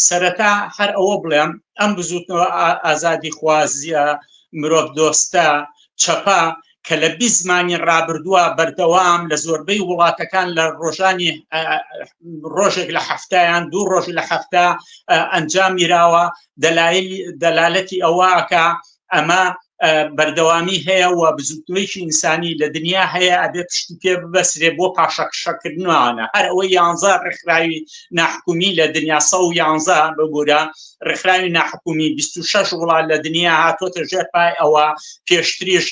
سەرەتا هەر ئەوە بڵێم ئەم بزوتنەوە ئازادی خوازیە مرۆڤ دۆستە چەپە کە لە بی زمانی ڕابردووە بەردەوام لە زۆربەی وڵاتەکان لە ڕۆژانی ڕۆژێک لە هەفتیان دوو ڕۆژ لە هەفتە ئەنجامیراوە دەلایل دەلالەتی ئەوەکە ئەمە بەردەوامی هەیە و بزوتنەوەیکی ئینسانی لە دنیا هەیە ئەبێ پشتی پێ ببەسرێ بۆ پاشەکشەکردنوانە هەر ئەوە یانزە ڕێکخراوی ناحکومی لە دنیا سە و یانزە ببوورە ڕێکخراوی ناحکومی 26 وڵات لە دنیا هاتۆتە ژێر پای ئەوە پێشتریش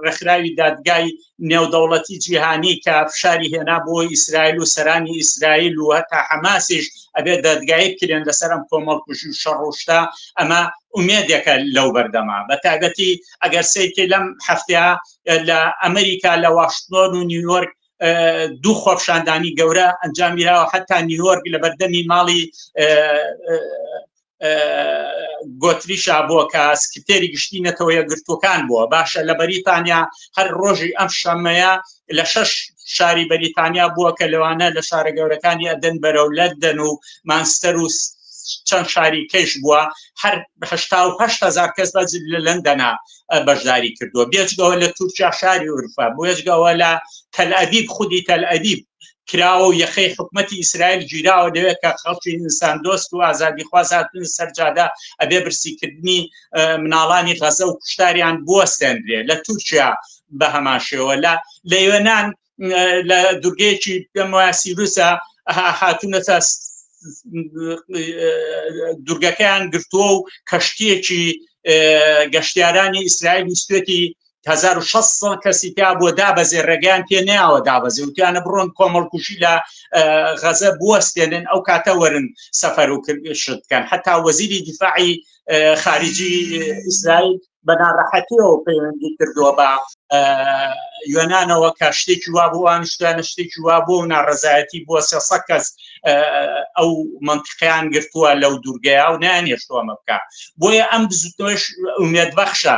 ڕێکخراوی دادگای نێودەوڵەتی جیهانی کە فشاری هێنا بۆ ئیسرائیل و سەرانی ئیسرائیل و هەتا حەماسیش ئەبێ دەدگایی کرێن لەسەر ئەم کۆمەڵکوژی و شەڕۆشتا ئەمە ئومێدێکە لەو بەردەما بە تایبەتی ئەگەر سیرکە لەم هەفتەیە لە ئەمریکا لە واشنۆن و نیویۆرک دوو خۆپشاندانی گەورە ئەنجامیراوە حتا نیوەرگ لە بەردەمی ماڵی گۆتری شابووە کە سکرتێری گشتی نەتەوە یەکگرتوەکان بووە باشە لە بەریتانیا هەر ڕۆژی ئەم شەمەیە لە شەش شاری بەریتانیا بووە کە لەوانە لە شارە گەورەکانی ئەدەن بەرەو لەدەن و مانستەر و چەند شاری کەش بووە هەر هزار کەس بە لە لەندەنا بەشداری کردووە بێجگەوە لە تورکیا شاری ئورفا بێجگەوە لە تەلئەدیب خودی تەلئەدیب کراوە و یەخەی حکوومەتی ئیسرائیل گیراوە لەوێ کە خەڵکی ئینسان دۆست و ئازادی خوازاتن سەرجادا ئەبێ برسیکردنی مناڵانی غەزە و کوشتاریان بوەستێنرێ لە تورکیا بە هەماشەوە لە لە یۆناان لە دوورگەیەکی پێم وایە سیروسە هاتوونەتە دوورگەکەیان گرتووە و کەشتیەکی گەشتیارانی ئیسرائیل سوێتی هزار و شەست ساڵ کەسی تیا بۆ دابەزێ ڕێگەیان پێ ناوە دابەزێ و توانە بڕۆن کۆمەڵکوشی لە غەزە بوەستێنن ئەو کاتە وەرن سەفەر و شت بکەن حتا وەزیری دیفاعی خارجی ئیسرائیل بە ناڕەحەتیەوە پەیوەندی کردووە بە یۆنانەوە کە شتێکی وا بووان شتانە شتێکی وا بۆ و ناڕزایەتی بووە سێسە کەس ئەو منتیقیان گرتووە لەو دوورگەیە و نیان هێشتووەمە بکە بۆیە ئەم بزوتنەوەش ئومێدبەخشە